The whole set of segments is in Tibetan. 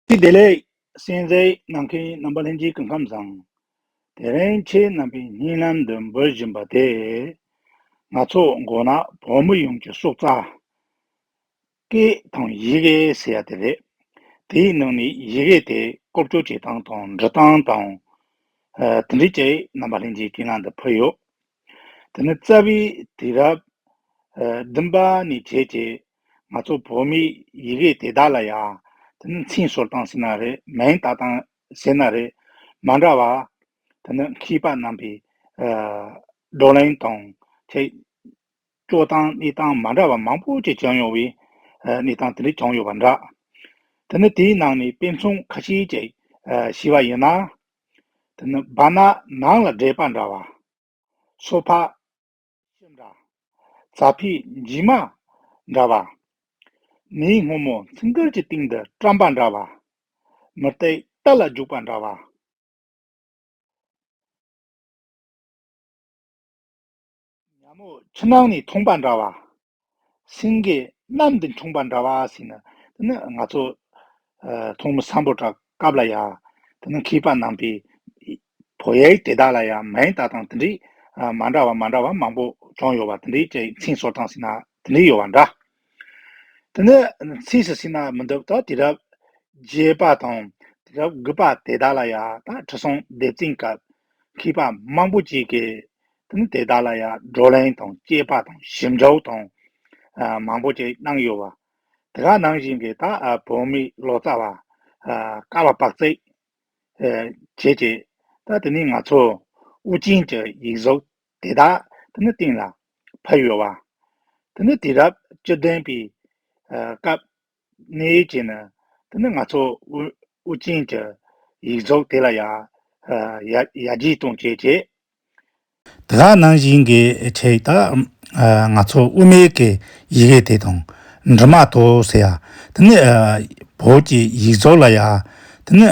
ཅི་བདེ་ལེགས། སྲིད་རྩེའི་ནམ་མཁའི་རྣམ་པ་ལྷན་སྐྱེས་ཀྱི་ཁམས་བཟང། དེ་རིང་ཁྱེད་རྣམ་པའི་སྙིང་ལམ་དུ་འབོད་བཞིན་པ་དེ། ང་ཚོ་མགོ་ནག་བོད་མི་ཡོངས་ཀྱི་སྲོག་རྩ། སྐད་དང་ཡི་གེ་ཟེར་ཡ་དེ་རེད། དེའི་ནང་ནས་ཡི་གེ་དེ་རྐོ་བསྐྱོར་བྱེད་སྟངས་དང་འབྲི་སྟངས་དང། དེ་འབྲི་བྱེད་རྣམ་པ་ལྷན་སྐྱེས་ཀྱི་ངང་དུ་ཕུལ་ཡོད། དེ་ནས་རྩ་བའི་དུས་རབས་བདུན་པ་ནས་བྱས་ཏེ་ང་ཚོ་བོད་མིའི་ཡི་གེ་དེ་དག་ལ་ཡང་དེ་ནི་ཚིག་ཟུར་དང་ཟེར་ན་རེད་མིང་དག་དང་ཟེར་ན་རེད་མ་འདྲ་བར་དེ་ནི་མཁས་པ་རྣམས་པའི་བགྲོ་གླེང་དང་ཐད་སྐྱོ་སྟངས་གནས་སྟངས་མ་འདྲ་བ་མང་པོ་ཞིག་བྱུང་ཡོང་བའི་གནས་སྟངས་དེ་རིགས་བྱུང་ཡོད་པ་འདྲ། དེ་ནི་དེའི་ནང་ནས་དཔེ་མཚོན་ཁ་ཤས་ཅིག་ཞུས་པ་ཡིན་ན། དེ་ནི་བ་ན་ནང་ལ་འདྲེས་པ་འདྲ་བ། སོ་ཕག། ཤིང་འདྲ། རྩྭ་ཕིག་འཇིགས་མ། འདྲ་བ། མིའི་སྔོན་མོ་ཚིག་མགར་གྱི་སྟེང་དུ་བཀྲམ་པ་འདྲ་བ། མི་སྟེགས་རྟ་ལ་རྒྱུག་པ་འདྲ་བ། ཉམས་འོག་ཕྱི་ནང་ནས་མཐོང་པ་འདྲ་བ། སེང་གེ་གནམ་དུ་མཆོངས་པ་འདྲ་བ་ཟེར་ན། དེ་ནི་ང་ཚོ་མཐོང་མི་བཟང་པོ་འདྲ་སྐབས་ལ་ཡང། དེ་ནི་མཁས་པ་ནང་པའི་བོད་ཡིག་དེ་དག་ལ་ཡང་མིང་བཏགས་སྟངས་དེ་འདྲའི་མ་འདྲ་བ་མ་འདྲ་བ་མང་པོ་བྱུང་ཡོད་པ་དེ་འདྲའི་ཅིག་མཚན་གསོལ་སྟངས་ཟེར་ན་དེ་འདྲའི་ཡོད་པ་འདྲ། དེ་ནི་ཚིགས་སུ་བཅད་ན་མི་འདུག་ད་དེ་རབས་བརྒྱད་པ་དང་དེ་རབས་དགུ་པ་དེ་དག་ལ་ཡང་ད་དྲི་བཟང་སྡེབ་བཙན་སྐབས་མཁས་པ་མང་པོ་ཅིག་གིས་དང་དེ་དག་ལ་ཡང་བགྲོ་གླེང་དང་དཔྱད་པ་དང་ཞིབ་འཇུག་དང། མང་པོ་ཅིག་གནང་ཡོད། དེ་དག་ནང་བཞིན་གྱི་དང་བོད་མི་ལོ་ཙཱ་བ། ཀ་བ་པགས་བརྩེགས། བྱེད་ཅེས། དང་དེ་ནས་ང་ཚོ་དབུ་ཅན་གྱི་ཡིག་གཟུགས་དེ་དག་དང་སྟེང་ལ་ཕབ་ཡོད། དང་དེ་རབས་བཅུ་བདུན་པའི་སྐབས་གནས་ཡུལ་གྱི་ནི། དེ་ནི་ང་ཚོ་དབུ་ཅན་གྱི། ཡིག་རྫོགས་དེ་ལ་ཡང། ཡར་རྒྱས་གཏོང་བྱེད་ཀྱི། དེ་དག་ནང་བཞིན་གྱི་ཕྲད་དག། ང་ཚོ་དབུ་མའི་གི་ཡི་གེ་དེ་དང། འབྲི་མ་ཐོ་ཟེར་ཡ། དེ་ནི། བོད་ཀྱི་ཡིག་རྫོགས་ལ་ཡང། དེ་ནི།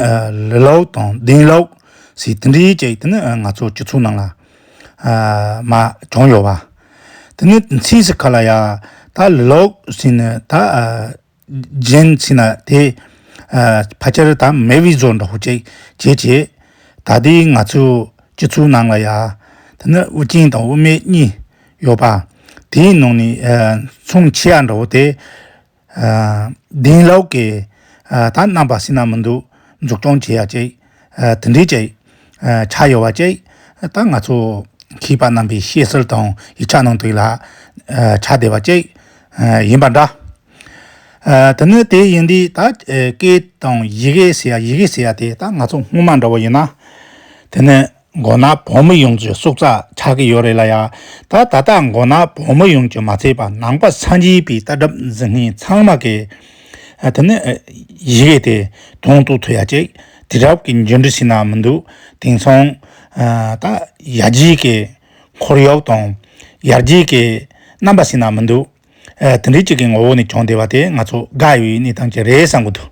ལི་ལོག་དང་ལྡིང་ལོག། ཟེར་དེ་འདྲའི་ཅིག་དེ་ནི་ང་ཚོ་སྤྱི་ཚོགས་ནང་ལ། མ་བྱུང་ཡོད་པ། དེ་ནི་ཚིག་ཟིག་ག་ལ་ཡ། ད་ལོག་ཟིན་ནས་ད་རྗེན་ཟིན་ན་དེ། ཕ་ཁྱེར་ད་མེ་བི་བཟོ་འདྲ་བོ་ཅིག་བྱེད་ཅེས། ད་ལྟའི་ང་ཚོའི་སྤྱི་ཚོགས་ནང་ལ་ཡ། དེ་ནི་དབུ་ཅན་དང་དབུ་མེད་གཉིས་ཡོད་པ། དེའི་ནང་ནས་མཚུངས་ཆེ་ཡ་འདྲ་བོ་དེ། དེང་ལོག་གི་ད་རྣམ་པ་སྲིད་ན་མི་འདུག་འཛུགས་སྐྱོང་བྱེད་ཡ་གཅིག་དེ་འདྲས་ཅིག་ཆགས་ཡོད་བ་གཅིག་ད་ང་ཚོ་མཁས་པ་རྣམ་པའི་བཤད་སྲོལ་དང་ཡིག་ཆ་ནང་དུ་ལ་ཆགས་བསྡད་བ་གཅིག་ཡིན་པ་འདྲ། དེ་ནི་དེ་ཡིན་དུས་ད་སྐད་དང་ཡི་གེ་ཟེར་ཡ་ཡི་གེ་ཟེར་ཡ་དེ་ད་ང་ཚོ་སྔོན་མ་འདྲ་བོ་ཡིན་ན་དེ་ནི། མགོ་ནག་བོད་མི་ཡོངས་ཀྱི་སྲོག་རྩ་ཆག་གི་ཡོད་རེད་ལ་ཡ། ད་ད་ལྟ་མགོ་ནག་བོད་མི་ཡོངས་ཀྱི་མ་ཚད་པ་ནང་པ་ས་འཇིག་པའི་ལྟ་གྲབ་འཛིན་མཁན་ཚང་མ་གི། དེ་ནི། ཡི་གེ་དེ། དོང་དུ་ཐུག་ཡ་ཅིག། དེ་རབས་ཀྱི་འབྱོན་འབྲི་ཞིག་ན་མི་འདུག་དེང་སང། ད། ཡར་རྒྱས་ཀྱི། འཁོར་གཡོག་དང། ཡར་རྒྱས་ཀྱི། རྣམ་པ་ཞིག་ན་མི་འདུག། དེ་འདྲའི་གཅིག་གི་ངོ་བོ་ནས་བྱུང་བསྡད་པ་དེ་ང་ཚོ་དགའ་ཡོད་ཡི་གནས་སྟངས་ཅིག་རེད་བསམ་གྱི་འདུག་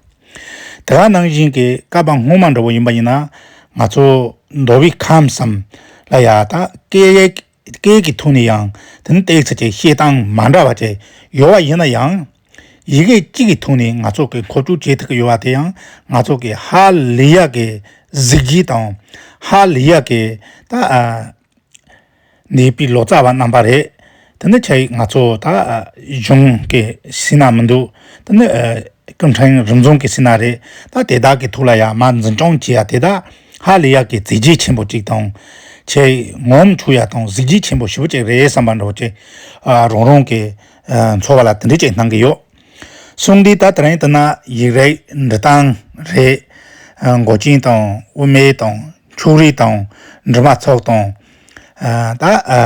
དེ་ག་ནང་བཞིན་གྱི་བསྐལ་པ་སྔོན་མ་འདྲ་བོ་ཡིན་པ་ཡིན་ན། ང་ཚོ་མདོ་དབུས་ཁམས་སམ། ལ་ཡ་ད་སྐད་ཀྱི་ཐུགས་ནས་ཡང་དེ་ནི་བཏེགས་ཚེ་ཆེ་བཤད་སྟངས་མ་འདྲ་བ་ཅིག་ཡོད་བ་ཡིན་ན་ཡང། ཡི་གེ་གཅིག་གི་ཐུགས་ནས་ང་ཚོ་གི་མཁོ་སྤྲོད་བྱེད་ཐུབ་ཀྱི་ཡོད་བ་དེ་ཡང་ང་ཚོ་གི་ཧ་ལི་ཡ་གི་གཟིགས་བརྗིད་དང། ཧ་ལི་ཡ་གི་ད། ནས་པའི་ལོ་ཙཱ་བ་རྣམ་པ་རེད། དེ་ནི་ཆ་ཡིས་ང་ཚོ་ད་གཞུང་གི་སྲིད་ན་མི་འདུག་དེ་ནི་ཀུན་ཕྲན་རིམ་བྱུང་གི་སྲིད་ན་རེད་ད་དེ་དག་གི་ཐུགས་ལ་ཡང་མར་འཛིན་སྐྱོང་བྱེད་ཡ་དེ་དག་ཧ་ལས་ཡག་གི་མཛད་རྗེས་ཆེན་པོ་ཅིག་དང། ཆ་ཡིས་ངོམ་ཆུག་ཡ་དང་གཟི་བརྗིད་ཆེན་པོ་ཞེ་བོ་ཅིག་རེད་བསམ་པ་འགྲོ་ཅིག་རང་རང་གི་འཚོ་བ་ལ་དེ་འདྲས་ཅིག་གནང་གི་ཡོད། གསུང་འདི་ད་དེ་རིང་བསྟུན་ན་ཡིག་རིགས་འབྲི་སྟངས་རེད་འགོ་ཆེན་དང་དབུ་མེད་དང། ཕྱུགས་རིགས་དང། འབྲི་མ་ཚོགས་དང། ད།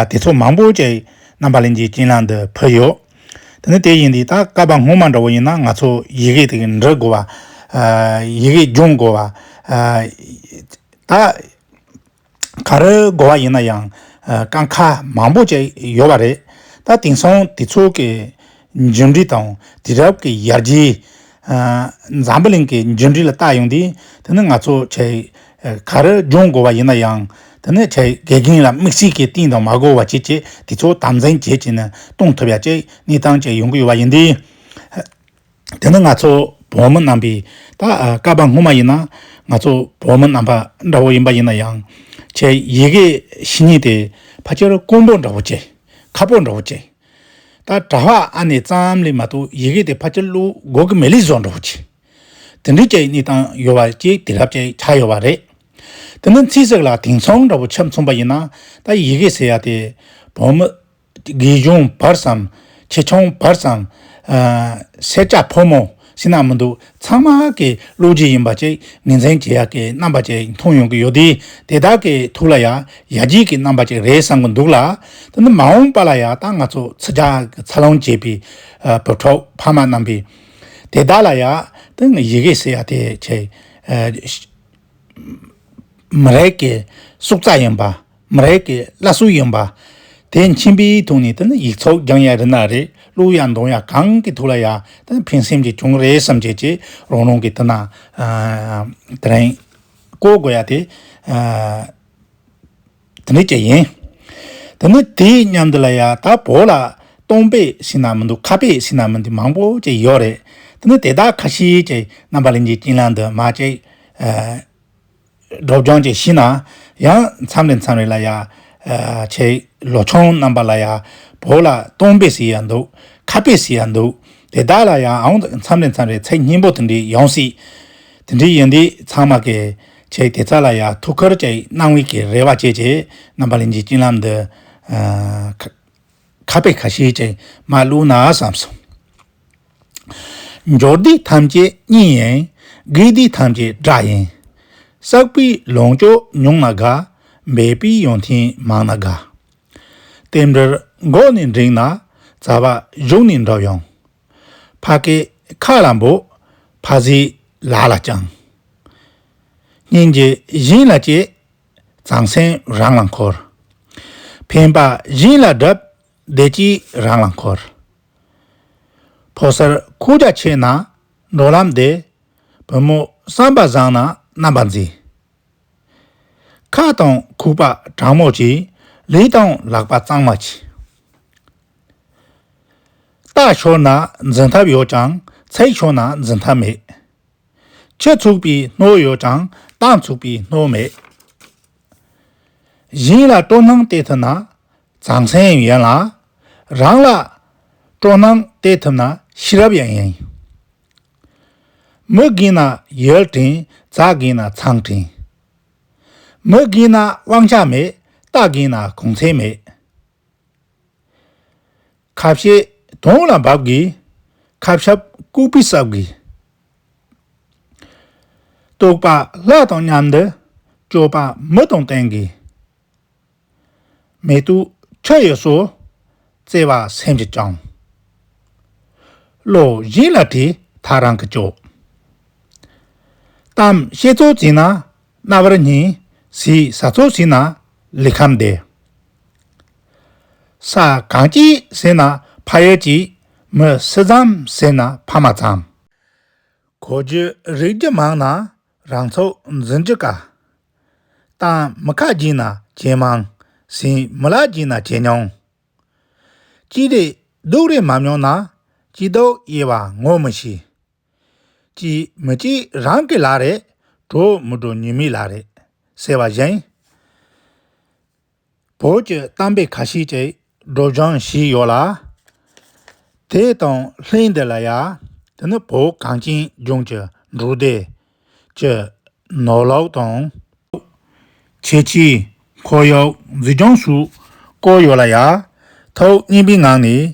དེ་ཚོ་མང་པོ་ཅིག་རྣམ་པ་གླིང་རྗེའི་སྤྱན་ལམ་དུ་ཕུལ་ཡོད། དེ་ནི་དེ་ཡིན་དུས་ད་སྐབས་པ་སྔོན་མ་འདྲ་བོ་ཡིན་ན་ང་ཚོ་ཡི་གེ་དེ་འབྲི་དགོས་པ། ཡི་གེ་སྦྱོང་དགོས་པ། ད། ག་རེ་དགོས་པ་ཡིན་ན་ཡང། ཀ་ཁ་མང་པོ་ཅིག་ཡོད་པ་རེད། ད་དེང་སང་དེ་ཚོ་གི་འབྱོན་འབྲིང་དང་དེ་རབས་ཀྱི་ཡར་རྒྱས། འཛམ་བུ་གླིང་གི་འབྱོན་འབྲིང་ལ་བལྟ་ཡོང་དུས་དེ་ནི་ང་ཚོ་ཆེ་ག་རེ་སྦྱོང་དགོས་པ་ཡིན་ན་ཡང་དེ་ནི་ཆེ་དགེ་རྒན་ལ་དམིགས་བསལ་གྱི་གཏིང་དང་མ་གོ་བ་བྱེད་ཆེད་དེ་ཚོ་དམ་འཛིན་བྱེད་ཀྱི་ནི་གཏོང་ཐུབ་ཡ་ཅེས་གནས་སྟངས་ཅིག་ཡོང་གི་ཡོད་པ་ཡིན་དུས། དེ་ནི་ང་ཚོ་བོད་མི་རྣམ་པའི་ད་སྐབས་སྔོན་མ་ཡིན་ན་ང་ཚོ་བོད་མི་རྣམ་པ་འདྲ་བོ་ཡིན་པ་ཡིན་ན་ཡང་ཆེ་ཡི་གེ་གཞི་རྙིང་དེ་ཕ་ཆེར་དཀོན་པོ་འདྲ་བོ་ཆེ་ཁ་པོ་འདྲ་བོ་ཆེ། ད་གྲྭ་བ་ཨ་ནེ་ཙམ་ལས་མ་གཏོགས་ཡི་གེ་དེ་ཕ་ཁྱི་ཀླུ་སྒོ་ཀི་མེ་ལི་བཟོ་འགྲོ་ཅི། དེ་འདྲའི་སྐྱེ་གནས་སྟངས་ཡོད་བ་ཅིག་དེ་རབས་ཅིག་ཆགས་ཡོད་བ་རེད། དེ་འདྲ་མཚིས་ཟེགས་ལ་དེང་མཚུངས་འདྲ་བོ་ཆབ་མཚུངས་པ་ཡིན་ན་ད་ཡི་གེ་ཟེར་ཡ་དེ་བོད་མི། དགེ་སྦྱོང་བར་སམ། ཆེ་ཆུང་བར་སམ། སེར་སྐྱ་ཕོ་མོ། ཤི་ན་མི་འདུག་ཚང་མ་ཨག་གི་བློ་གྲོས་ཡིན་པ་ཅིག་ངེས་མཚན་གྱི་ཡག་གི་རྣམ་པ་ཅིག་མཐོང་ཡོང་གི་ཡོད་དེ་དེ་དག་གི་ཐུགས་ལ་ཡང་ཡ་བརྗིད་ཀྱི་རྣམ་པ་ཅིག་རེད་བསམ་གི་འདུག་ལ། དེ་ནི་མ་འོངས་པ་ལ་ཡང་ད་ང་ཚོ་ཚིག་རྒྱག་གི་ཚར་ལོང་བྱས་པའི་བུ་ཕྲུག་ཕ་མ་རྣམ་པས། དེ་དག་ལ་ཡང་ད་ཡི་གེ་ཟེར་ཡ་དེ་ཆེས་མི་རིགས་ཀྱི་སྲོག་རྩ་ཡིན་པ། མ་རེད་ཀྱི་བླ་སྲོག་ཡིན་པ། དེ་མཁྱེན་པའི་ཐོག་ནས་དེ་ནི་ཡིག་ཚོགས་རྒྱང་ཡ་རི་ན་རེད་གླུ་ཡ་མདོང་ཡ་གང་གི་ཐུགས་ལ་ཡ་དེ་ནི་ཕན་སེམས་ཀྱི་གྱོང་རེད་བསམ་བྱེད་ཀྱི་རང་རང་གི་དེ་ན་དེ་རིང་བཀོལ་དགོས་ཡ་དེ་དེ་འདྲ་ཅི་ཡིན། དེ་ནི་དེ་མཉམ་འདི་ལ་ཡ་ད་བོད་ལ་སྟོང་པའི་ཤིང་ནག་མི་འདུག་ཁ་པའི་ཤིང་ནག་མི་འདུག་མང་པོ་ཅིག་ཡོད་རེད་དེ་ནི་དེ་དག་ཁ་ཤས་ཀྱིས་རྣམ་པ་གླིང་གི་གྱེན་ལངས་དུ་མ་ཅིག་སྒྲོག་སྦྱང་བཅས་བཞི་ན་ཡང་མཚམས་རེ་མཚམས་རེ་ལ་ཡང། ཆེ། ལོ་ཆུང་རྣམ་པ་ལ་ཡང། བོད་ལ་སྟོང་པས་ཟེར་ཡང་འདུག་ཁ་པས་ཟེར་ཡང་འདུག་དེ་དག་ལ་ཡང་ཨང་མཚམས་རེ་མཚམས་རེ་ཚེག་སྙིང་པོ་དེ་འདྲས་ཡོང་སྲིད། དེ་འདྲས་ཡོད་དུས་ཚང་མ་གི། ཆེ་དེ་ཚ་ལ་ཡང་ཐུགས་ཁུར་བཅས་གནང་བའི་གི་རེ་བ་བཅས་ཀྱིས་རྣམ་པ་ལེན་གྱི་སྤྱིན་ལམ་འདི། ཁ་བས་ཁ་ཤེས་ཀྱིས་མ་བསླུ་ན་བསམས་སོ། འབྱོར་སྡེ་ཐམས་ཅད་གཉིས་ཡིན། དགེ་སྡེ་ཐམས་ཅད་དགྲ་ཡིན། བསགས་པའི་ལོངས་སྤྱོད་ཉུང་ན་དགའ། འབད་པའི་ཡོན་ཏན་མང་ན་དགའ། རྟེན་འབྲེལ་འགོག་ནས་འགྲིག་ན། རྩ་བ་གཞུག་ནས་འགྲོ་ཡོང། ཕ་གི་ཁ་ལ་འབུག། ཕ་བཟའི་ལག་ལ་བཅང། སྙིང་རྗེ་གཞན་ལ་བསྐྱེད། ཟང་ཟིང་རང་ལ་འཁོར། ཕན་པ་གཞན་ལ་བསྒྲུབ། བདེ་སྐྱིད་རང་ལ་འཁོར། ཕོ་གསར་ཁུག་རྒྱ་ཆེ་ན་འགྲོ་ལམ་བདེ། བུ་མོ་བསམ་པ་བཟང་ན་རྣམ་པ་མཛེས། ཁ་དང་ཁུག་པ་དྲང་མོ་བྱེད། ལུས་དང་ལག་པ་གཙང་མ་བྱེད། རྟགས་ཆོག་ན་འཛིན་ཐབས་ཡོད་ཀྱང་ཚེགས་ཆོག་ན་འཛིན་ཐབས་མེད། ཁྱེད་ཚུགས་པའི་སྣོད་ཡོད་ཀྱང་ཏང་ཚུགས་པའི་སྣོད་མེད། གཞན་ལ་སྤྲོ་སྣང་སྟེར་ཐུབ་ན་ཟང་ཟིང་ཡང་ཡིན་ལ། རང་ལ་སྤྲོ་སྣང་སྟེར་ཐུབ་ན་ཤེས་རབ་ཡང་ཡིན། མི་རྒན་ན་ཡུལ་བྲིན་རྩྭ་རྒན་ན་ཚང་བྲིན། མི་རྒན་ན་དབང་ཆ་མེད་རྟ་རྒན་ན་གུང་ཚན་མེད། ཁ་བཤད་དོང་ལ་འབབ་གི། ཁ་བཤབ་ལྐུགས་པས་སྲབ་གི། རྟོག་པ་ལྷ་དང་མཉམ་འདི། སྤྱོད་པ་མི་དང་བསྟན་གི། མེ་དུག་ཁྲི་ཡི་སོ། བརྩེ་བ་སེམས་ཀྱི་སྤྱང། བློ་གཞན་ལ་དྲིས་མཐའ་རང་གི་སྤྱོད། གཏམ་བཤད་ཚོགས་བྱས་ན་རྣ་བར་སྙན། ཟས་ཟ་ཚོགས་བྱས་ན་ལུས་ཁམས་བདེ། ས་གང་སྐྱིད་ཟེར་ན་ཕ་ཡུལ་སྐྱིད། མི་སི་ཙམ་ཟེར་ན་ཕ་མ་ཙམ། གོ་རྒྱུ་རིག་རྒྱུ་མང་ན་རང་ཚོགས་འཛིན་རྒྱུ་དཀའ། ཏང་མི་ཁ་སྐྱིད་ན་ཇེ་མང། སྲིང་མི་ལག་སྐྱིད་ན་ཇེ་ཉུང། སྐྱིད་རེད་སྡུག་རེད་མ་མྱོང་ན། སྐྱིད་སྡུག་དབྱེ་བ་ངོ་མི་ཤེས། སྐྱིད་མི་སྐྱིད་རང་གི་ལག་རེད། གྲོགས་མི་གྲོགས་ཉེ་མིའི་ལག་རེད། ཟེར་བ་བཞིན། བོད་ཀྱི་གཏམ་དཔེ་ཁ་ཤས་ཀྱི་སྒྲོག་སྦྱངས་ཞིག་ཡོད་ལ། དེ་དང་ལྷན་དེ་ལ་ཡང་དེ་ནི་བོད་གངས་ཅན་ལྗོངས་ཀྱི་འབྲུག་སྡེ་གྱི་ནོར་ལོག་དང། ཁྱད་ཆོས་ཁོར་ཡུག་འཛུགས་སྐྱོང་སུ་བཀོལ་ཡོད་ལ་ཡ་ཐོག་སྙན་པའི་ངང་ནས།